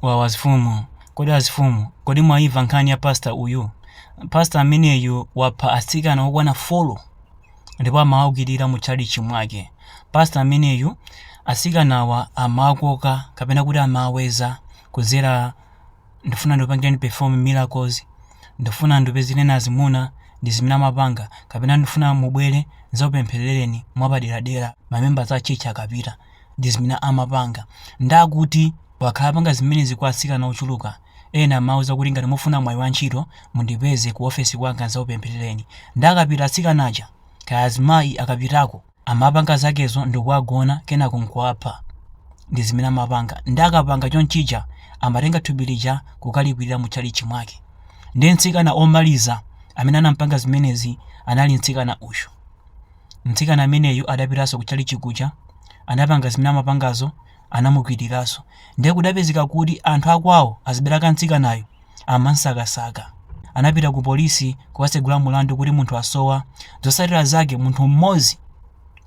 Wawa azifumu kodi azifumu kodi mwaiva nkhani ya pastor uyu pastor ameneyu wapha atsikana okwana folo ndipo amawakwirira mu tchalitchi mwake pastor ameneyu atsikanawa amakoka kapena kuti amaweza kudzera ndifuna ndipangireni perform miracles ndifuna ndikupezereni azimuna ndi zimene amapanga kapena ndifuna mubwere nzakupempherereni mwapaderadera mamembers a church akapita ndi zimene amapanga nde akuti wakhala apanga zimenezi kwa atsikana ochuluka ena amauza kuti ngati mufuna mwayi wa ntchito mundipeze ku ofesi kwanga nzakupempherereni nde akapita atsikana aja kaya azimayi akapitako amapanga zakezo ndikuwagona kenako nkuwapha ndi zimene amapanga nde akapanga chonchija amatenga thupi lija kukalikwirira mu tchalitchi mwake nde mtsikana omaliza amene anampanga zimenezi anali mtsikana uyo mtsikana ameneyu adapitanso kutchalitchi kuja, anapanga zimene amapangazo, anamukwiriranso. Ndiye kudapezeka kuti anthu akwawo azibale ake a mtsikanayu amamsakasaka. Anapita kupolisi kukatsegula mulandu kuti munthu wasowa. Zotsatira zake munthu mmodzi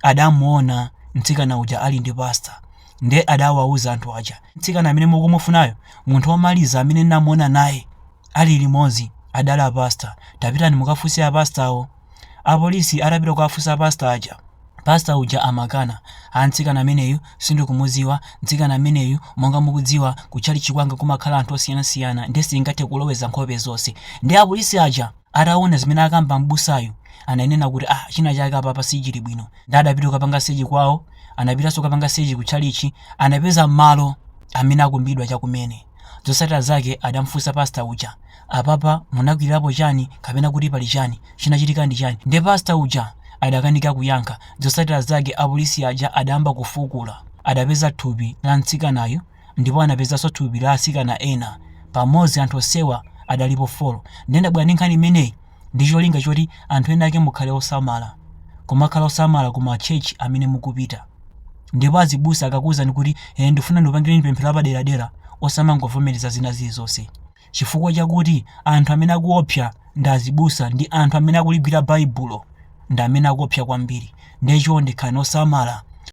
adamuona mtsikana uja ali ndi pastor ndiye adawauza anthu aja, mtsikana amene mukumufunayo munthu womaliza amene ndinamuona naye ali limodzi adali a pastor, tapitani mukafunse a pastorwo. apolisi atapita kukafunsa pastor aja, pastor uja amakana, ah mtsikana ameneyu sindikumudziwa, mtsikana ameneyu monga mukudziwa ku chalichi kwanga kumakhala anthu osiyanasiyana nde sindingathe kuloweza nkhope zonse. Nde apolisi aja ataona zimene akamba m'busayu ananena kuti ah china chake apapa sichili bwino nde adapita kukapanga search kwawo, anapitanso kukapanga search ku chalichi anapeza malo amene akumbidwa chakumene. Zosatira zake adamfunsa pastor uja apapa munakwilirapo chani kapena kuti pali chani chinachitika ndi chani nde pastor uja adakanika kuyankha zosatira zake apolisi aja adayamba kufukula adapeza thupi la mtsikanayu ndipo anapezanso thupi la atsikana ena pamodzi anthu osowa adalipo 4 nde ndabwera ndi nkhani imeneyi ndi cholinga choti anthu ena ake mukhale osamala. Kumakhala osamala ku ma church amene mukupita. Ndipo azibusa akakuuzani kuti eh ndifuna ndikupangireni pemphero lapaderadera, osamangovomereza zina zilizonse. Chifukwa chakuti anthu amene akuopsa ndi azibusa ndi anthu amene akuligwira Baibulo ndi amene akuopsa kwambiri. Ndiye chonde khalani osamala.